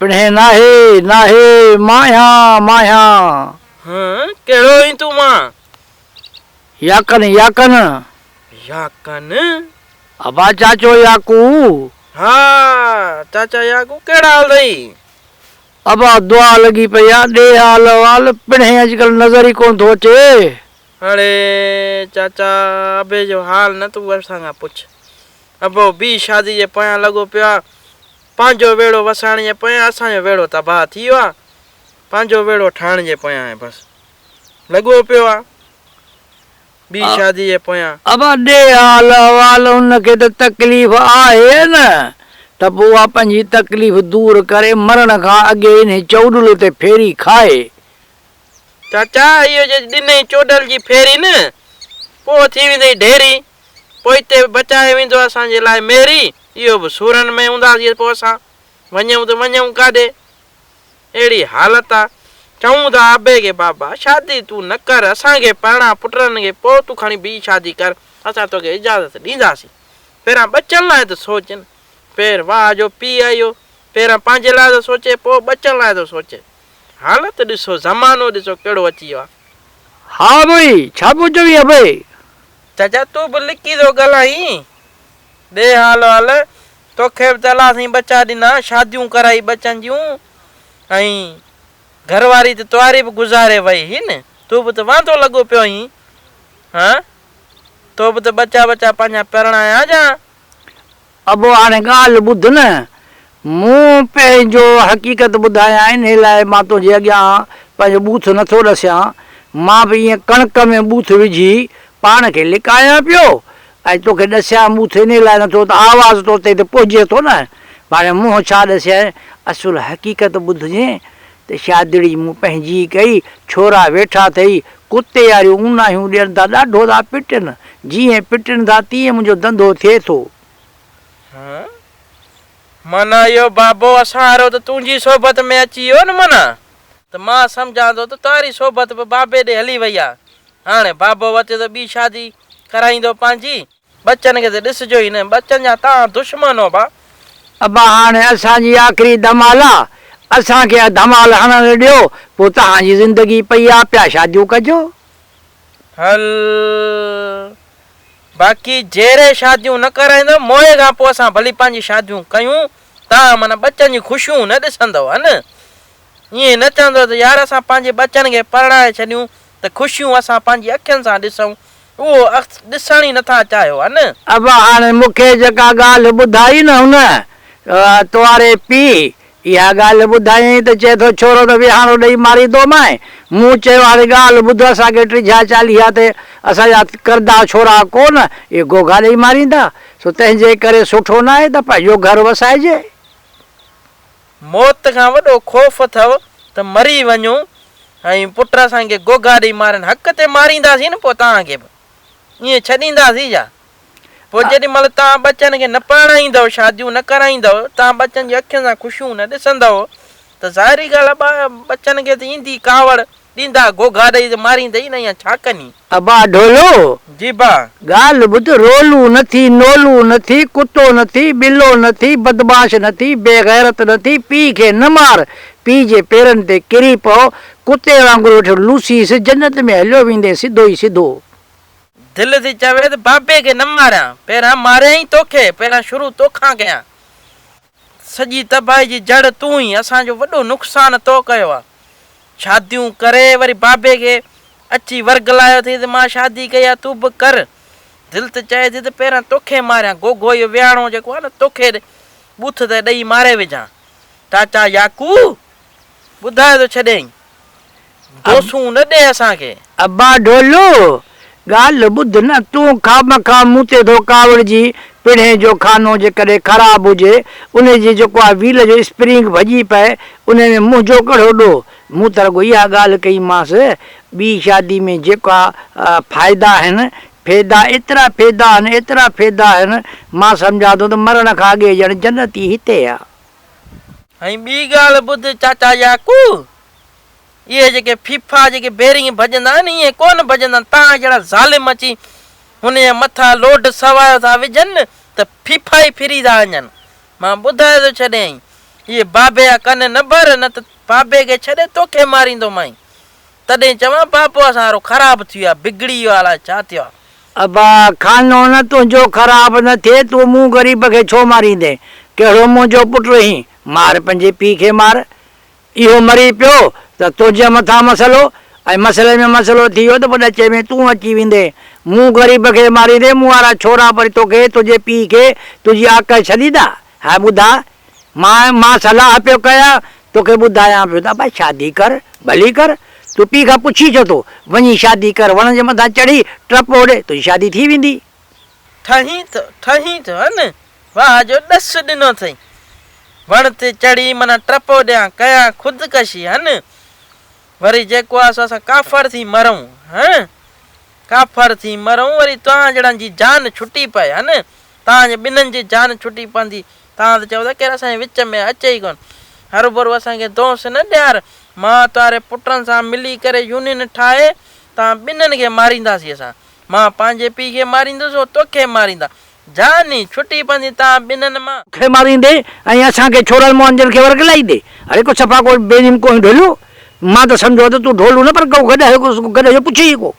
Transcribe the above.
پڻهين ناهي، ناهي، مانهيان، مانهيان. هان، ڪهڙو هين تون مان؟ ياڪن، ياڪن. ياڪن؟ ابا چاچو ياڪو. ها، چاچا ياڪو، ڪهڙا حال اٿئي؟ ابا دعا لڳي پئي آ، ڏي حال احوال، پڻهين اڄڪلهه نظر ئي ڪونه ٿو اچي. اڙي چاچا، ابي جو حال نه تون ورسان کان پڇ. ابو بي شادي جي پويان لڳو پيو آ. پنهنجو ويڙهو وسائڻ جي پويان اسان جو ويڙهو تباهه ٿي ويو آ پنهنجو ويڙهو ٺاهڻ جي پويان هي بس لڳو پيو آ ٻي شادي جي پويان. ابا ڏي حال احوال ان کي ته تڪليف آهي ئي نه ته پوء اها پنهنجي تڪليف دور ڪري مرڻ کان اڳي انهي چؤڏل تي ڦيري کائي. چاچا اهو جي ڏنئي چؤڏل جي ڦيري نه پوء ٿي ويندئي ڍيري. پوئتي به بچايو ويندو اسان جي لاء ميري اهو به سورن ۾ هونداسين پوء اسان وڃون ته وڃون ڪاڏي اهڙي حالت آ چئون ٿا ابي کي بابا شادي تون نه ڪر اسان کي پرڻا پٽن کي پوء تون کڻي ٻي شادي ڪر اسان توکي اجازت ڏينداسين پهريان ٻچن لاء ته سوچ نه پير واهه جو پيء آهي اهو پهريان پنهنجي لاء ٿو سوچي پوء ٻچن لاء ٿو سوچي. حالت ڏسو زمانو ڏسو ڪهڙو اچي ويو آ. ها ڀوئي ڇا پيو چوين ابي. چچا تون به لڪي ٿو ڳالهائين ڏي حال وال توکي به ته الله سائين ٻچا ڏنا شاديون ڪرائي ٻچن جون ۽ گهر واري ته تنهاري به گذاري وئي هئي نه تون به ته واندو لڳو پيو هئين ها تو به ته ٻچا ٻچا پنهنجا پرڻايا جا. ابو هاڻي ڳالهه ٻڌ نه، مون پنهنجو حقيقت ٻڌايانء، انهيء لاء مان تنهنجي اڳيان پنهنجو ٻوٿ نٿو ڏسيان، مان به ائين ڪڻڪ ۾ ٻوٿ وجهي پاڻ کي لڪايان پيو، ۽ توکي ڏسيان ٻوٿ انهيء لاء نٿو ته آواز تو تائين ته پهچي ٿو نه، ڀاڻي منهن ڇا ڏسينء، اصل حقيقت ٻڌجين، ته شاهدڙي مون پنهنجي ڪئي، ڇورا ويٺا ٿئي ڪتي واريون اوناهيون ڏين ٿا، ڏاڍو ٿا پٽن، جيئن پٽن ٿا تيئن منهنجو ڌنڌو ٿئي ٿو. هه، من اهو بابو اسان وارو ته تنهنجي صحبت ۾ اچي ويو نه من، ته مان سمجهان ٿو ته تنهاري صحبت به بابي ڏي هلي وئي آ، هاڻي بابو وتي ته ٻي شادي ڪرائيندو پنهنجي. ٻچن کي ته ڏسجو ئي نه. ٻچن جا توهان دشمن هو ڀا. ابا هاڻي اسان جي آخري ڌمال آ اسان کي اها ڌمال هڻڻ ڏيو پوء توهان جي زندگي پئي آ پيا شاديون ڪجو. هل باقي جيري شاديون نه ڪرائيندو موئي کان پوء اسان ڀلي پنهنجي شاديون ڪيون توهان من ٻچن جي خوشيون نه ڏسندو هن. ائين نه چوندو ته يار اسان پنهنجي ٻچن کي پرڻائي ڇڏيون ته خوشيون اسان پنهنجي اکين سان ڏسون، اهو اخت ڏسڻ ئي نه ٿا چاهيو هن. ابا هاڻي مون کي جيڪا ڳالهه ٻڌائي نه هن، تواري پيء، اها ڳالهه ٻڌايئين ته چئي ٿو ڇورو ته ويهاڻو ڏئي ماريندومانء. مون چيو هاڻي ڳالهه ٻڌ اسان کي ٽجها چاليها تي اسان جا ڪردا ڇورا ڪو نه اهي گهوگها ڏئي ماريندا، سو تنهنجي ڪري سٺو ناهي ته پنهنجو گهر وسائجي. موت کان وڏو خوف اٿئو ته مري وڃون ۽ پٽ اسان کي گوگا ڏئي مارين حق تي مارينداسين نه پوء توهان کي به ائين ڇڏينداسين ڇا؟ پوء جيڏي مهل توهان ٻچن کي نه پرڻائيندئو شاديون نه ڪرائيندئو توهان ٻچن جي اکين سان خوشيون نه ڏسندئو ته ظاهري ڳالهه آهي ٻچن کي ته ايندي ڪاوڙ ڏيندا گهوگها ڏئي جو ماريندئي نه ايئن ڇا ڪني. ابا ڍولو! جي با! ڳالهه ٻڌ، رولو نه ٿي، نولو نه ٿي، ڪتو نه ٿي، ٻلو نه ٿي، بدمعاش نه ٿي، بي غيرت نه ٿي، پيء کي نه مار، پيء جي پيرن تي ڪري پئو، ڪتي وانگر وٺ لوسيس، جنت ۾ هليو ويندين سڌو ئي سڌو. دل ٿي چوي ته بابي کي نه ماريان، پهريان ماريان ئي توکي، پهريان شروع توکان ڪيان. سڄي تباهي جي جڙ تون ئي اسان جو وڏو نقصان تو ڪيو آ شاديون ڪري وري بابي کي اچي ورغلايو ٿي ته مان شادي ڪئي آ تون به ڪر دل ته چئي ٿي ته پهريان توکي ماريان گوگو اهو ويهاڻو جيڪو آ نه توکي ٻوٿ تي ڏئي ماري وجهان چاچا ياڪو ٻڌايو ته ڇڏيائين. دوسون نه ڏي اسان کي. ابا ڍولو! ڳالهه ٻڌ نه، تون خامخواه مون تي ٿو ڪاوڙجين. پڻهين جو خانو جيڪڏهن خراب هجي، انهي جي جيڪو آ ويل جو اسپرنگ ڀڄي پئي، انهي ۾ منهنجو ڪهڙو ڏوهه؟ مون ته رڳو اها ڳالهه ڪئيمانس، ٻي شادي ۾ جيڪا فائدا آهن، فيدا، ايترا فيدا آهن، ايترا فيدا آهن، مان سمجهان ٿو ته مرڻ کان اڳي ڄڻ جنت ئي هتي آ. ۽ ٻي ڳالهه ٻڌ چاچا ياڪو، اهي جيڪي ڦيڦا جيڪي بيرنگ ڀڄندا آهن ائين ڪونه ڀڄندا آهن، توهان جهڙا ظالم اچي هن جي مٿان لوڊ سوايو ٿا وجهن ته ڦيڦا ئي ڦري ٿا وڃن. مان ٻڌائي ٿو ڇڏيائين، اهي بابي جا ڪن نه ڀر نه ته بابي کي ڇڏي توکي ماريندومانء. تڏهن چوان پاپو اسان وارو خراب ٿي ويو آ بگڙي ويو آ الاء ڇا ٿيو آ. ابا خانو نه تنهنجو خراب نه ٿئي تون مون غريب کي ڇو ماريندين ڪهڙو منهنجو پٽ رهين مار پنهنجي پيء کي مار اهو مري پيو ته تنهنجي مٿان مسئلو ۽ مسئلي ۾ مسئلو ٿي ويو ته پوء ڏچي ۾ تون اچي ويندين مون غريب کي ماريندين مون وارا ڇورا وري توکي تنهنجي پيء کي تنهنجي آڪهه ڇڏيندا هي ٻڌاء، مان مان صلاح پيو ڪيان، توکي ٻڌايان پيو ته ابا شادي ڪر، ڀلي ڪر، تون پيء کان پڇين ڇو ٿو، وڃي شادي ڪر، وڻ جي مٿان چڙهي ٽپ هوڏي، تنهنجي شادي ٿي ويندي. ٺهين ٿو، ٺهين ٿو، هن واهه جو ڏس ڏنو اٿئي، وڻ تي چڙهي منا ٽپ هوڏيان، ڪيان خودڪشي، هن وري جيڪو آهي سو اسان ڪافر ٿي مرون، هن ڪافر ٿي مرون، وري توهان جهڙن جي جان ڇٽي پئي، هن. توهان جي ٻنهن جي جان ڇٽي پوندي. توهان ته چئو ٿا ڪير اسان جي وچ ۾ اچي ئي ڪونه. هروڀرو اسان کي دونس نه ڏيار. مان توهاري پٽن سان ملي ڪري يونين ٺاهي توهان ٻنهن کي مارينداسين اسان. مان پنهنجي پيء کي ماريندس هو توکي ماريندا. جان ئي ڇٽي پوندي توهان ٻنهن مان. کي ماريندي ۽ اسان کي ڇورن مهنجن کي ورغلائيندي. اڙي ڪو صفا ڪو بيرحم ڪوهين ڍوليو. مان ته سمجهيو ها ته تون ڍولو نه پر ڪو گڏهه هيو ڪو گڏهه جو پڇي ئي ڪو.